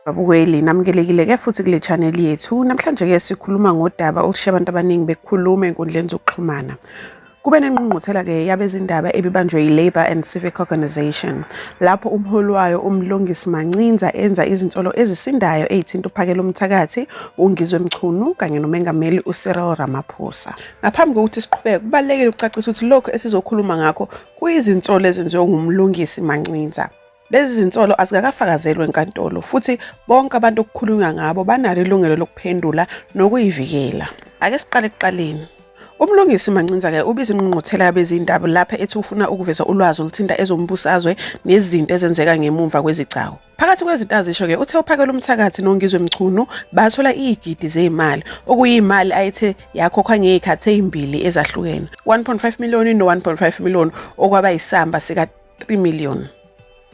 Babukeli, namukelekile ke futhi kule channel yethu. Namhlanje ke sikhuluma ngodaba olushiya abantu abaningi bekhuluma enkundleni zokuxhumana. Kube nenqungquthela ke yabezindaba ebibanjwe yi-Labour and Civic Organisation lapho umholi wayo uMlungisi Mancinza enza izinsolo ezisindayo ezithinta uphakela umthakathi uNgizwe Mchunu kanye nomengameli uCyril Ramaphosa. Ngaphambi kokuthi siqhubeke kubalekile ukucacisa ukuthi lokho esizokhuluma ngakho Kuyizinsolo ezenziwe nguMlungisi Mancinza. Lezi zinsolo azikakafakazelwe enkantolo futhi bonke abantu okukhulunywa ngabo banalo ilungelo lokuphendula nokuyivikela. Ake siqale ekuqaleni. Umlungisi Mancinza-ke ubiza ingqungquthela yabezindaba lapha ethi ufuna ukuveza ulwazi oluthinta ezombusazwe nezinto ezenzeka ngemumva kwezigcawu. Phakathi kwezinto azisho-ke uthe uphakela umthakathi nongizwe mchunu bathola iyigidi zeyimali okuyimali ayethe yakhokhwa ngeyikhathi ezimbili ezahlukene 1.5 million no 1.5 million okwaba isamba sika 3 million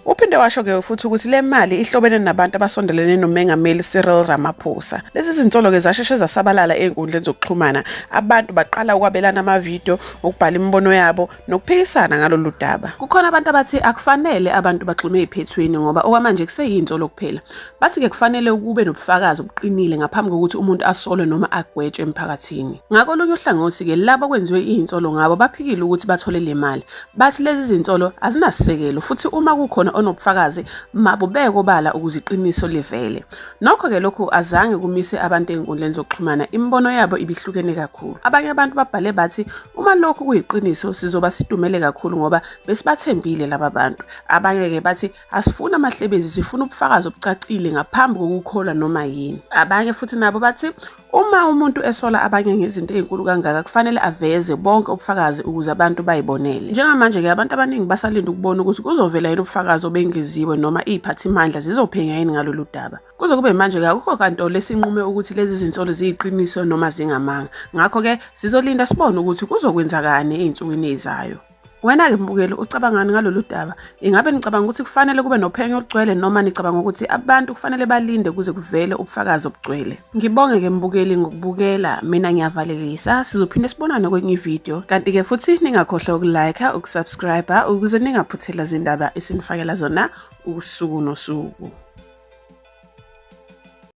Uphinde washo ke futhi ukuthi le mali ihlobene nabantu abasondelene noMengameli Cyril Ramaphosa. Lezi zinsolo ke zasheshe zasabalala ezinkundleni zokuxhumana. Abantu baqala ukwabelana amavidiyo, ukubhala imibono yabo nokuphikisana ngalolu daba. Kukhona abantu abathi akufanele abantu bagxume eziphethweni ngoba okwamanje kuseyinto lokuphela. Bathi-ke kufanele ukube nobufakazi obuqinile ngaphambi kokuthi umuntu asolwe noma agwetshwe emphakathini. Ngakolunye uhlangothi-ke labo kwenziwe iyinsolo ngabo baphikile ukuthi bathole le mali. Bathi lezi zinsolo azinasisekelo futhi uma kukhona onobufakazi mabubeke obala ukuze iqiniso livele. Nokho-ke lokhu azange kumise abantu ezinkundleni zokuxhumana, imibono yabo ibihlukene kakhulu. Abanye abantu babhale bathi uma lokhu kuyiqiniso sizoba sidumele kakhulu ngoba besibathembile laba bantu. Abanye-ke bathi asifuni amahlebezi, sifuna ubufakazi obucacile ngaphambi kokukholwa noma yini. Abanye futhi nabo bathi Uma umuntu esola abanye ngezinto ezinkulu kangaka kufanele aveze bonke ubufakazi ukuze abantu bayibonele. Njengamanje ke abantu abaningi basalinda ukubona ukuthi kuzovela yini ubufakazi obengeziwe noma iziphathimandla zizophenya yini ngalolu daba. Kuze kube manje ke akukho kanto lesinqume ukuthi lezi zinsolo ziyiqiniso noma zingamanga. Ngakho ke sizolinda sibone ukuthi kuzokwenzakani ezinsukwini ezizayo. Wena-ke mbukeli ucabangani ngalolu daba? Ingabe nicabanga ukuthi kufanele kube nophenyo olugcwele noma nicabanga ukuthi abantu kufanele balinde kuze kuvele ubufakazi obugcwele? Ngibonge-ke mbukeli ngokubukela, mina ngiyavalelisa, sizophinde sibonane kwenye ividiyo. Kanti-ke futhi ningakhohlwa ukulike, ukusubscribe ukuze ningaphuthela zindaba esinifakela zona usuku nosuku.